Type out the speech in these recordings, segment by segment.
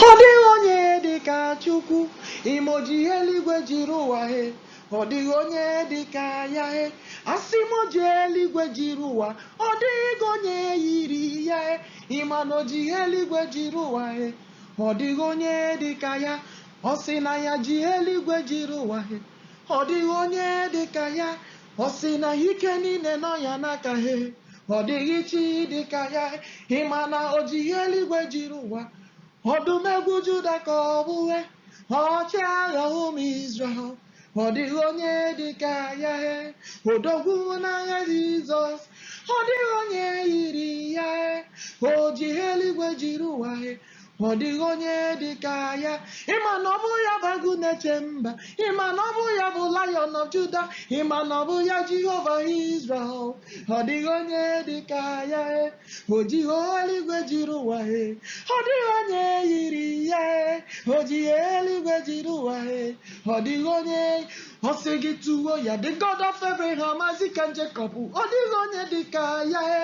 Ọ dịghị onye dị ka Chukwu, ịma o ji eluigwe jiri ụwa he. Ọ dịghị onye dị ka ya he, asị m o ji eluigwe jiri ụwa. Ọ dịghị onye yiri ya he, ịma na o ji eluigwe jiri ụwa he. Ọ dịghị onye dị ka ya, ọ sị na ya ji eluigwe jiri ụwa he. Ọ dịghị onye dị ka ya. Ọ sị na ike niile nọ ya n'aka he. Ọ dịghị chi dị ka ya. Ị ma na o ji eluigwe jiri ụwa. Ọdụm ebo Juda ka ọ bụ he. Ọchịagha ụmụ Izrel. Ọ dịghị onye dị ka ya he. Odogwu n'agha Jizọs. Ọ dịghị onye yiri ya he. O ji eluigwe jiri ụwa he. ma ọ dịghị onye dị ka ya ịma na ọ bụ ya bụ agụ na-eche mba ịma na ọ bụ ya bụ lion of juda ịma na ọ bụ ya jehova israel ọ dịghị onye dị ka ya e o ji he eluigwe jiri ụwa e ọ dịghị onye yiri ya e o ji he eluigwe jiri ụwa e ọ dịghị onye ọ sị gị tuwo ya the god of abraham isaac and jacob ọ dịghị onye dị ka ya e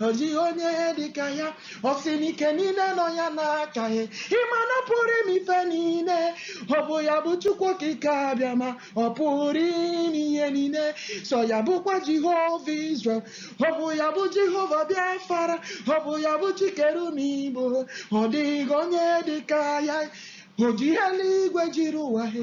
ọ dịghị onye dị ka ya ọ sị na ike niile nọ ya n'aka he ịma na ọ pụrụ ime ife niile ọ bụ ya bụ chukwu okike abịama ọ pụrụ ime ihe niile sọ ya bụkwa jehova israel ọ bụ ya bụ jehova biafara ọ bụ ya bụ chi kere ụmụ igbo ọ dịghị onye dị ka ya o ji eluigwe jiri ụwa he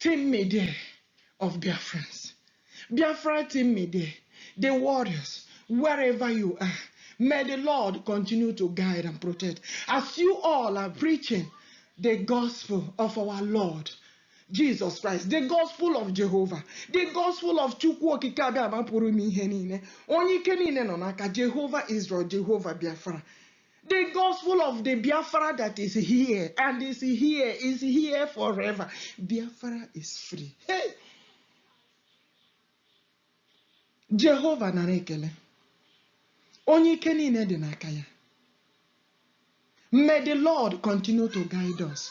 Team Media of Biafrans, Biafra Team Media, the warriors, wherever you are, may the Lord continue to guide and protect as you all are preaching the gospel of our Lord Jesus Christ, the gospel of Jehovah, the gospel of Chukwu Okike Abịama pụrụ ime ihe niile, onye ike niile nọ n'aka Jehova Israel, Jehova Biafra. The gospel of the Biafra that is here and is here is here forever. Biafra is free. Hey! Jehova nara ekele. Onye ike niile dị n'aka ya. May the Lord continue to guide us.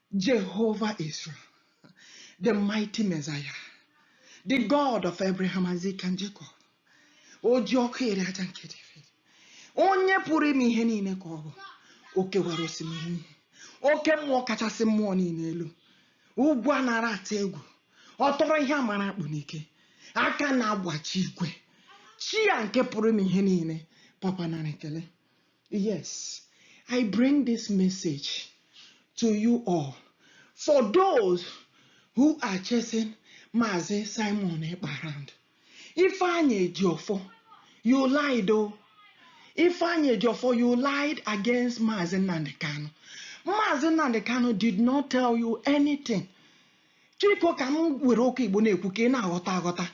Jehovah Israel, the mighty Messiah, the God of Abraham, Isaac, and Jacob. O ji ọkụ eri aja nke David. Onye pụrụ ime ihe niile ka ọ bụ. O kewara osimiri uhie. Oke mmụọ kachasị mmụọ niile elu. Ugwu a na-arị atụ egwu. Ọ tọrọ ihe a mara akpụ n'ike. Aka na-agbaji igwe. Chi ya nke pụrụ ime ihe niile. Papa nara ekele. Yes, I bring this message to you all. For those who are chasing Mazi Simon Ekparand, Ifeanyi Ejiofor, you lied o. Ifeanyi Ejiofor, you lied against Mazi Nnamdi Kanu. Mazi Nnamdi Kanu did not tell you anything Chiko ka m were ụka Igbo na-ekwu ka ị na-aghọta aghọta.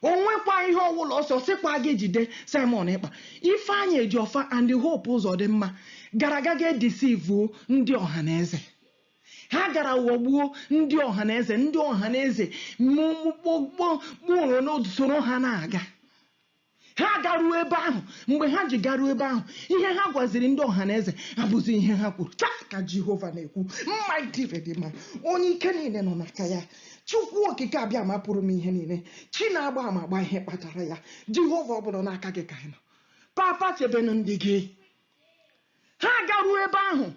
O nwekwa ihe ọ wụla ọ sị ọ sịkwa gị jide Simon Ekpa, Ifeanyị Ejiofor and Hope Uzodimma gara ga ga edisivuo ndị ọha na eze. Ha gara ghọgbuo ndị ọha na eze, ndị ọha na eze mụ- mụ- kpọ- kpọ- kpọrọ n'otu soro ha na-aga. Ha agaruo ebe ahụ. Mgbe ha ji garuo ebe ahụ, ihe ha gwaziri ndị ọha na eze abụzi ihe ha kwuru. Otu a ka Jehova na-ekwu, Mighty Redeemer, onye ike niile nọ n'aka ya, Chukwu Okike Abịama pụrụ ime ihe niile, Chi na-agba ama agba ihe kpatara ya, Jehova ọ bụrụ n'aka gị ka anyị nọ. Papa chebenụ ndị gị. ha garuo ebe ahụ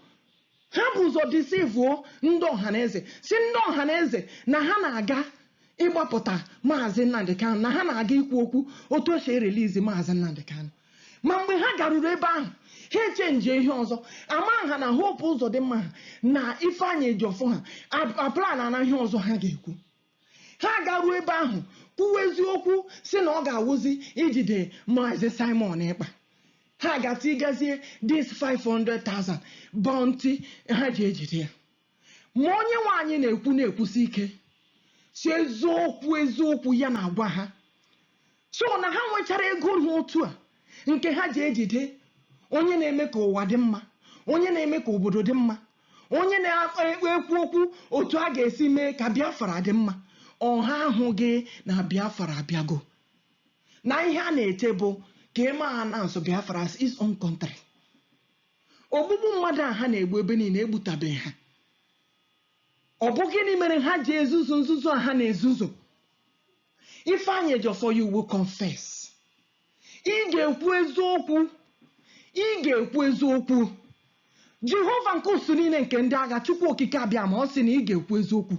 ha bu ụzọ disivuo ndị ọhaneze sị ndị ọhaneze na ha na-aga ịgbapụta maazị Nnamdi Kanu na ha na-aga ikwu okwu otu e si erelizi maazị Nnamdi Kanu ma mgbe ha garuru ebe ahụ ha echenji ihe ọzọ ma ha na Hope Uzodimma ha na Ifeanyi Ejiofor ha aplanna ihe ọzọ ha ga-ekwu ha garuo ebe ahụ kwuwa eziokwu sị na ọ ga-awụzi ijide maazị Simon Ekpa ha gasị gazie this 500,000 bounty ha ji ejide ya ma onye nwe anyị na-ekwu na-ekwusi ike sị eziokwu eziokwu ya na-agwa ha So na ha nwechara ego ha otu a nke ha ji ejide onye na-eme ka ụwa dị mma, onye na-eme ka obodo dị mma, onye na-ekwu okwu otu a ga-esi mee ka Biafra dị mma. Ọ ha ahụghị na Biafra abịago, na ihe a na-eche bụ ka e mee announce Biafra as its own country. Ogbugbu mmadụ a ha na-egbu ebe niile egbutabeghị ha. Ọ bụ gịnị mere ha ji ezuzu nzuzu a ha na-ezuzu? Ifeanyi Ejiofor you will confess. Ị ga-ekwu eziokwu. Ị ga-ekwu eziokwu. Jehova nke usuu niile nke ndị agha Chukwu Okike Abịama ọ sị na ị ga-ekwu eziokwu.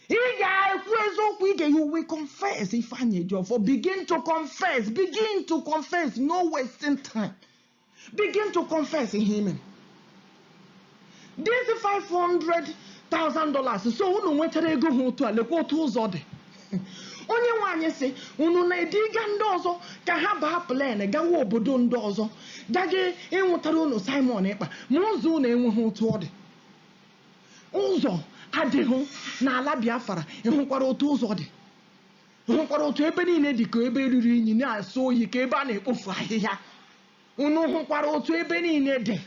Ị ga-ekwu eziokwu ị ga you will confess Ifeanyi Ejiofor begin to confess begin to confess no wasting time. Begin to confess ihe i me. This $500,000 so unu nwechara ego ha otu a lekwa otu ụzọ dị. Onye nwe anyị sị unu na-ediga ndị ọzọ ka ha baa plane gawa obodo ndị ọzọ gaga ịnwụtara unu Simon Ekpa ma ụzọ unu enweghị otu ọ dị. Ụzọ adịghị n'ala Biafra ị hụkwara otu ụzọ dị. hụkwara otu ebe niile dị ka ebe ruru unyi na-asọ oyi ka ebe a na-ekpofu ahịhịa unu hụkwara otu ebe niile dị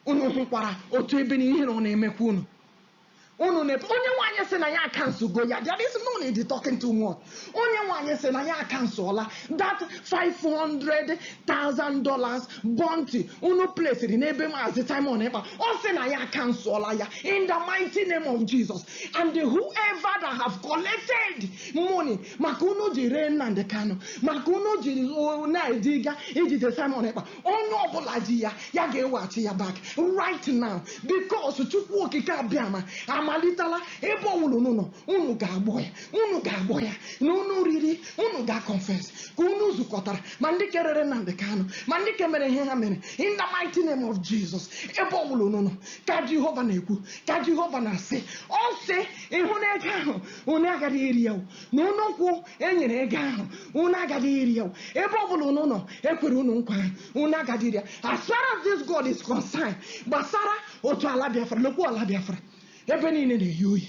unu hụkwara otu ebe niile ihere ọ na-emekwa unu unu na onye nwe anyị sị na ya akansọgo ya there is no need talking too much onye nwe anyị sị na ya akansọla that 500,000 dollars bounty unu plesiri n'ebe maazị Simon Ekpa ọ sị na ya akansọla ya in the mighty name of Jesus and whoever that have collected money maka unu ji ree Nnamdi Kanu maka unu ji na-aga ijide Simon Ekpa onye ọbụla ji ya ya ga-eweghachi ya back right now because Chukwu Okike Abịama amalitela ebe ọwụla unu nọ unu ga-agbọ ya unu ga-agbọ ya na unu riri unu ga-confess ka unu zukọtara ma ndị ke rere Nnamdi Kanu ma ndị ke mere ihe ha mere in the mighty name of Jesus ebe ọwụla unu nọ ka Jehova na-ekwu ka jehova na-asị ọ sị ịhụ na ego ahụ unu agaghị eri ya o, na unu nke e nyere ego ahụ unu agaghị eri ya o. ebe ọ bụla unu nọ ekwere unu nkwa ahụ unu agaghị eri ya as far as this god is concerned gbasara otu ala biafra lekwa ala biafra ebe niile na-eyi oyi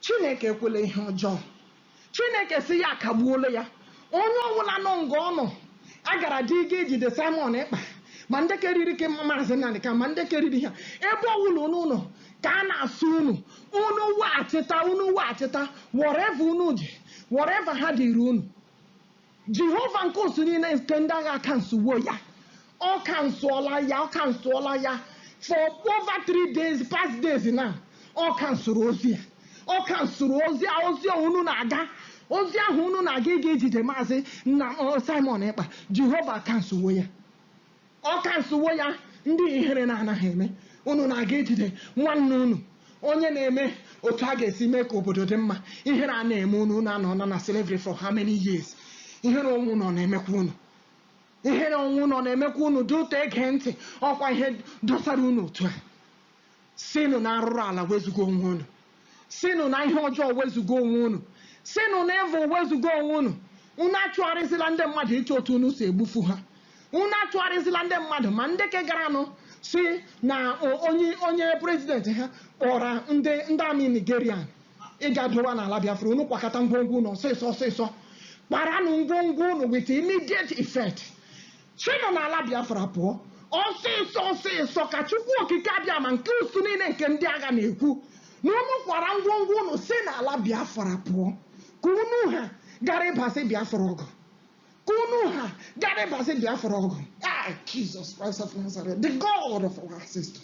Chineke ekwela ihe ọjọọ. Chineke sị ya akagbuola ya. Onye ọbụla nọ nga ọ nọ, a gara dị ịga ijide Simon Ekpa, ma ndị ke riri ke Ma- Maazị Nnamdi Kanu, ma ndị ke riri ha. Ebe ọbụla unu nọ, ka a na-asị unu. Unu weghachita, unu weghachita whatever unu ji, whatever ha dịịrị unu. Jehova nke usuu niile nke ndị agha kansụwo ya. Ọ kansụọla ya, ọ kansụọla ya for over three days, past days now. Ọ kansụrụ ozi a. Ọ kansụrụ ozi a, ozi a unu na-aga. Ozi ahụ unu na-aga ịga ijide maazị na ọ, Simon Ekpa. Jehova kansụwo ya. Ọ kansụwo ya ndị ihere na-anaghị eme. Unu na-aga ijide nwanne unu onye na-eme otu a ga-esi mee ka obodo dị mma. Ihere a na-eme unu, unu anọọla na slavery for how many years? Ihere onwe unu ọ na-emekwa unu? Ihere onwe unu ọ na-emekwa unu? Due to ege ntị, ọkwa ihe dọsara unu otu a. Sinụ na arụrụala wezuga onwe unu. Sinụ na ihe ọjọọ wezuga onwe unu. Sinụ na evil wezuga onwe unu. Unu achụgharịzila ndị mmadụ ịchọ otu unu si egbufu ha. Unu achụgharịzila ndị mmadụ ma ndị ke garanụ si na o- onye onye president ha kpọrọ ndị ndị army Nigeria ịga dowa n'ala Biafra. Unu kwakọta ngwongwo unu ọsịsọ ọsịsọ. Kparanụ ngwongwo unu with immediate effect. Sinụ n'ala Biafra pụọ ọsịsọ ọsịsọ, ka Chukwu Okike Abịama nke usuu niile nke ndị agha na-ekwu, na unu kwara ngwongwo unu si n'ala Biafra pụọ, ka unu ha gara ịbasị Biafra ọgụ, ka unu ha gara ịbasị Biafra ọgụ. Ah, Jesus Christ of Nazareth, the God of our ancestors.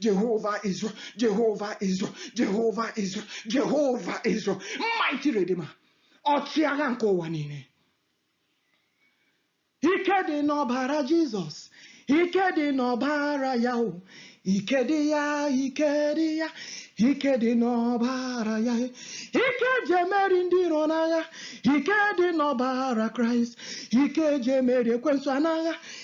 Jehovah Israel, Jehovah Israel, Jehovah Israel, Jehovah Israel, mighty Redeemer, ọchịagha nke ụwa niile. Ike dị n'ọbara Jizọs, ike dị n'ọbara ya o, ike dị ya, ike dị ya, ike dị n'ọbara ya, ike e ji emeri ndị iro n'agha, ike dị n'ọbara Kraịst, ike e ji emeri ekwensu n'agha,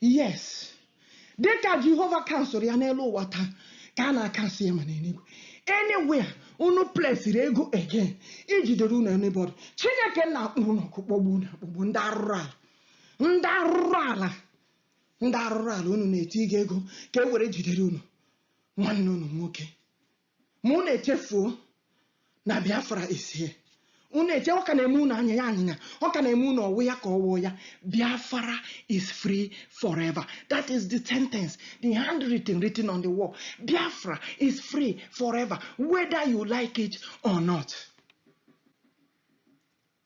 Yes, dị ka Jehova kansụrụ ya n'elu ụwa taa, ka a na-akansụ ya ma n'eluigwe. Anywhere unu plesiri ego again ijidere unu anybody, Chineke nna akpọọ unu ọkụ kpọgbuo unu akpọgbuo ndị arụrụ ala ndị arụrụ ala ndị arụrụ ala unu na-etinye ego ka e were jidere unu nwanne unu nwoke Ma unu echefuo na Biafra is here. Unu eche, ọ ka na-eme unu anya ya anyịnya, ọ ka na-eme unu ọ wụ ya ka ọ wụ ya. Biafra is free forever. That is the sentence, the handwriting written on the wall. Biafra is free forever, whether you like it or not.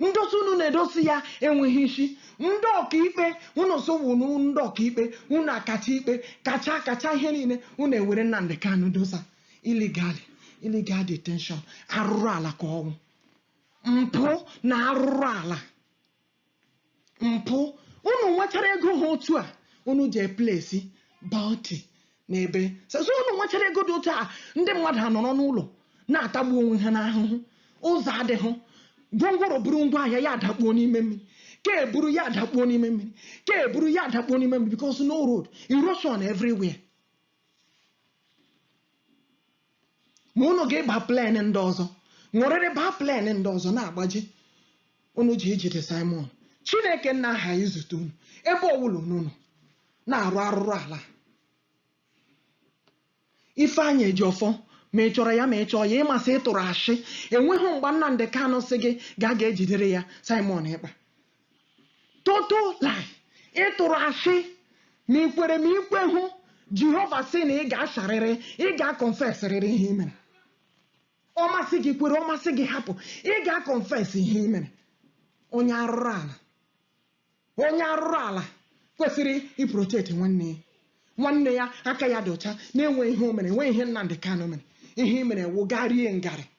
ndosa unu na-edosa ya enweghị isi ndị ọkaikpe unu sị ọ wụ unu wụ ndị ọkaikpe unu akacha ikpe kacha kacha ihe niile unu ewere Nnamdi Kanu dosa illegally illegal detention arụrụ ala ka ọ wụ mpụ na arụrụ ala mpụ unu nwechara ego ha otu a unu ji eplesi bounty n'ebe sọsọ unu nwechara ego dị otu a ndị mmadụ anọrọ n'ụlọ na-atagbu onwe ha n'ahụhụ ụzọ adịghị gwongworo buru ngwa ahịa ya adakpuo n'ime mmiri nke buru ya adakpuo n'ime mmiri nke buru ya adakpuo n'ime mmiri because no road erosion everywhere ma unu ga-ịba plen ndị ọzọ ṅụrịrị baa plen ndị ọzọ na-agbaji unu ji ijide Saịmọn Chineke nna aghaghị izute unu ebe ọbụla unu nọ na-arụ arụrụ ala Ifeanyị Ejiofor ma ị chọrọ ya ma ị chọhụ ya ị ma sị ị tụrụ ashị enweghị mgbe Nnamdị Kanụ sị gị gaa ga ejidere ya Simon Ekpa Total lie. Ị tụrụ asị ma i kwere ma i kwehụ Jehova sị na ị ga-asarịrị, ị ga-akọnfesịrịrị ihe i mere. Ọ masị gị kwere, ọ masị gị hapụ, ị ga-akọnfes ihe i mere. Onye arụrụ ala onye arụrụ ala kwesịrị iprotekti nwanne ya nwanne ya aka ya dị ọcha na-enweghị ihe o mere enweghị ihe Nnamdị Kanụ mere ihe i mere wụ gaa rie ngarị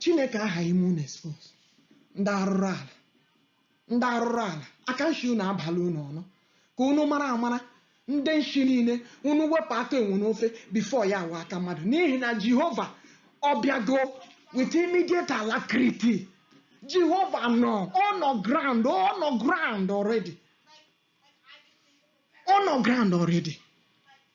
Chineke aghaghị ime unu expose ndị arụrụ ala ndị arụrụ ala aka nshi unu abala unu ọnụ ka unu mara amara ndị nshi niile unu wepụ aka enwe n'ofe before ya aghọọ aka mmadụ n'ihi na Jehova ọ bịago with immediate alacrity Jehova nọ ọ nọ ground ọ nọ ground already ọ nọ ground already